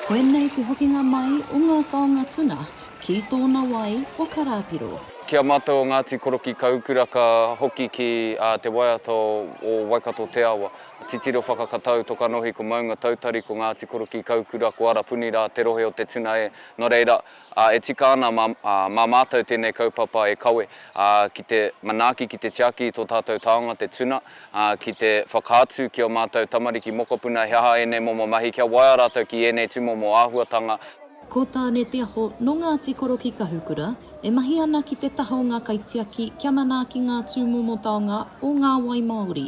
Koinei te hokinga mai o ngā taonga tuna ki tōna wai o Karāpiro. Ki a mātou o Ngāti Korokī Kaukura ka hoki ki te waiata o Waikato Te Awa. Titiro whakakatau toka nohi ko Maunga Tautari, ko Ngāti Korokī Kaukura, ko Arapuni rā te rohe o te tuna e. Nō reira, Ā, e tika ana mā, ā, mā Mātou tēnei kaupapa e kawe, ā, ki te manaaki, ki te tiaki i tō tātou taonga, te tuna, ā, ki te whakaatu ki ō Mātou tamariki mokopuna he aha ēnei momo mahi, kia waea rātou ki ēnei tūmomo āhuatanga. Ko Tāne Te Aho nō Ngāti Koro ki Kahukura, e mahi ana ki te taha o ngā kaitiaki kia manaaki ngā tūmomo taonga o ngā wai māori.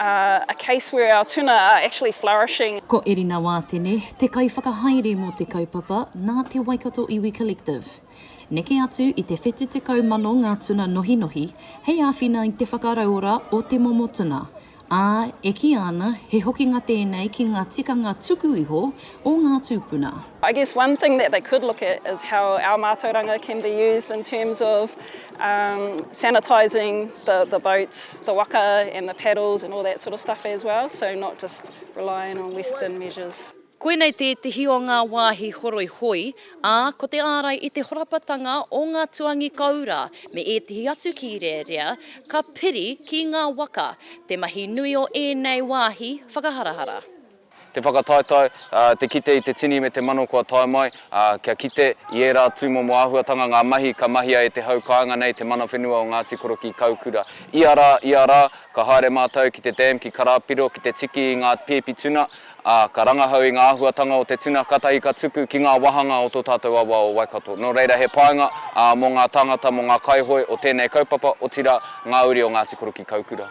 a case where our tuna are actually flourishing. Ko Erina Wātene, te kaiwhakahaere mō te kaupapa nā te Waikato Iwi Collective. Neke atu i te whetu tekau mano ngā tuna nohinohi hei āwhina i te whakarauora o te momo tuna, ā, e kīia ana he hokinga tēnei ki ngā tikanga tuku iho o ngā tūpuna. I guess one thing that they could look at is how our mātauranga can be used in terms of Um, sanitising the, the boats, the waka and the paddles and all that sort of stuff as well, so not just relying on Western measures. Koinei tētehi o ngā wāhi horoi hoi, ā, ko te ārai i te horapatanga o ngā tuangi koura me ētehi atu kīrearea ka piri ki ngā waka te mahi nui o ēnei wāhi whakaharahara. Te whakataetae, te kite i te tini me te mano kua tae mai, kia kite i ērā tūmomo āhuatanga ngā mahi ka mahia e te hau kāinga nei te mana whenua o Ngāti Korokī-Kaukura. Ia rā, ia rā, ka haere mātou ki te dam ki Karāpiro ki te tiki i ngā pēpi tuna, ā, ka rangahau i ngā āhuatanga o te tuna kātahi ka tuku ki ngā wāhanga o tō tātou awa o Waikato. Nō reira he painga mō ngā tāngata, mō ngā kaihoe o tēnei kaupapa, otirā, ngā uri o Ngāti Korokī-Kaukura.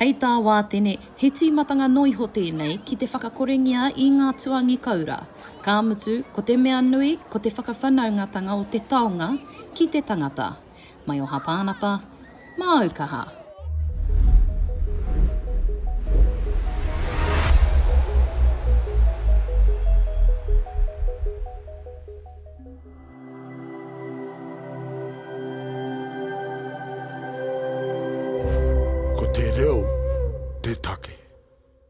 Hei tā Wātene, he tīmatanga noa iho tēnei ki te whakakorengia i ngā tuangi koura, ka mutu, ko te mea nui, ko te whakawhanaungatanga o te taonga ki te tangata. Mai o Hapānapa, māu kaha. Ko te reo te take.